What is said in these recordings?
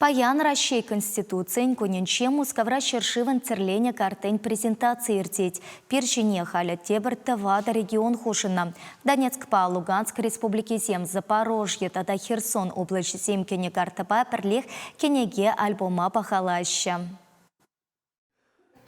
Паян Раҫҫей Конституцийӗн кунӗнче Мускавра ҫӗршывӑн тӗрленӗ картин презентацийӗ иртет. Пир ҫине халӗ тепӗр тӑватӑ регион хушӑннӑ. Донецкпа Луганск республикисем, Запорожье тата Херсон облаҫӗсем кӗнӗ картӑпа пӗрлех кӗнеке-альбома пахалаҫҫӗ.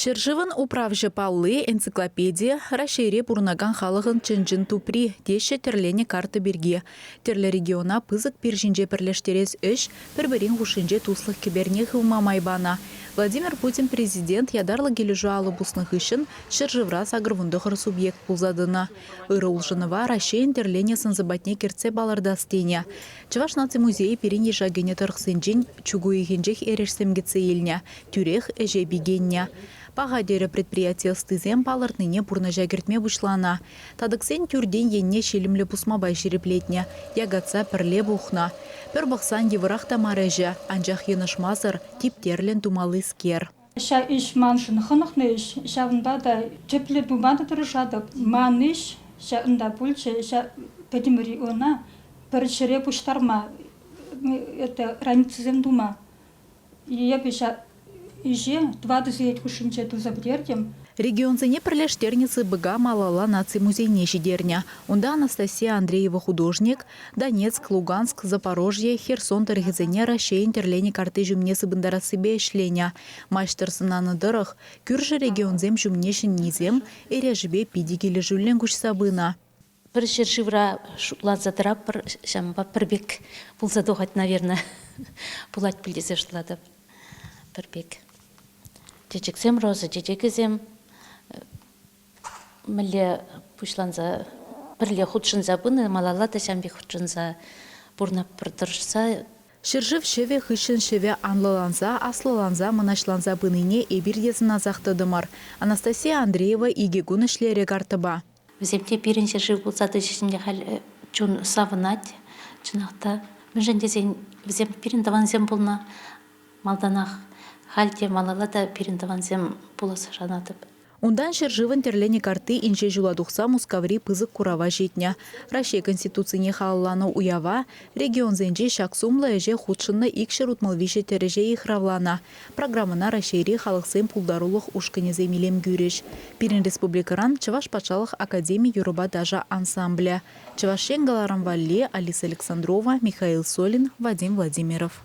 Ҫӗршывӑн управҫӑ палли – энциклопедия, Раҫҫейре пурӑнакан халӑхӑн чӑн-чӑн тупри, теҫҫӗ тӗрленӗ карта пирки. Тӗрлӗ региона пысӑк пир ҫинче пӗрлештерес ӗҫ пӗр-пӗрин хушшинче туслӑх кӗперне хывма май панӑ. Владимир Путин президент ятарлӑ килӗшӳ алӑ пуснӑ хыҫҫӑн ҫӗршывра сакӑрвунтӑхӑр субъект пулса тӑнӑ. Ырӑ улшӑнӑва Раҫҫейӗн тӗрленӗ сӑн-сӑпатне кӗртсе палӑртас тенӗ. Чӑваш наци музейӗ пирӗн йыша кӗнӗ тӑрӑхсенчен чуг уйӑхӗнчех эрешсем кӗтсе илнӗ, тӳрех ӗҫе пикеннӗ паха, терӗ предприяти ӑстисем. Палӑртнине пурнӑҫа кӗртме пуҫланӑ татӑксен тӳртен енне ҫилӗмлӗ пусма пай ҫирӗплетнӗ, якатса пӗрле пухнӑ. Пӗр пӑхсан йывӑрах та мар ӗҫӗ, анчах йӑнӑшмасӑр, типтерлӗн тумаллискер. Ҫав ӗҫ маншӑн хӑнӑхнӑ ӗҫ, ҫавӑнпа та тӗплӗ пыма та тӑрӑшатӑп. Ман ӗҫ ҫакӑнта пулчӗ, пӗтӗмӗри ӑна пӗр ҫӗре пуҫтарма, это границӑсем тума Эпӗ ҫак ӗҫе тӑватӑ сехет хушшинче туса пӗтертӗм. Регионсене пӗрлештернӗ ЦБКа малалла наци музейне ҫитернӗ. Унта Анастасия Андреева художник, Донецк, Луганск, Запорожье, Херсон тӑрӑхӗсене Раҫҫейӗн тӗрленӗ картти ҫумне сыпӑнтарассипе ӗҫленӗ. Маҫтӑр сӑнанӑ тӑрӑх, кӳршӗ регионсем ҫумне ҫӗннисем, эрешӗпе питӗ килӗшӳллӗн куҫса пынӑ. Пӗр ҫӗршывра шутланса тӑратпӑр, ҫавӑнпа пӗр пек пулса тухать, наверное. Пулать пуль тесе шутлатӑп. Пӗр пек. Чечексем, роза чечекӗсем мӗнле пуҫланса пӗрле хутшӑнса пынӑ, малалла та ҫам пек хутшӑнса пурӑнатпӑр тӑрӑшса. Ҫӗршыв ҫӑвӗ хыҫҫӑн ҫӑвӗ анлӑланса, аслӑланса, мӑнаҫланса пынине эпир те сӑнасах тӑтӑмӑр. Анастасия Андреева икӗ кун ӗҫлерӗ картӑпа. Вӗсем те пирӗн ҫӗршыв пулса тӑчӗҫ халь чун савӑнать. Чӑнах та, мӗншӗн тесен вӗсем пирӗн тӑвансем пулнӑ. Малтанах, халь те малалла та пирӗн тӑвансем пуласса шанатӑп. Унтан ҫӗршывӑн тӗрленӗ картти инҫе ҫула тухса Мускаври пысӑк курава ҫитнӗ. Раҫҫей Конституцине халалланӑ уява, регионсенчи ҫак сумлӑ ӗҫе хутшӑннӑ икҫӗр утмӑл виҫӗ тӗрӗҫе йыхравланӑ. Программӑна Раҫҫейри халӑхсен пултарулӑх ушкӑнӗсем илем кӳрӗҫ. Пирӗн республикӑран Чӑваш патшалӑх академи юрӑпа ташӑ ансамблӗ, Чӑваш Ен каларӑм валли Алиса Александрова, Михаил Солин, Вадим Владимиров.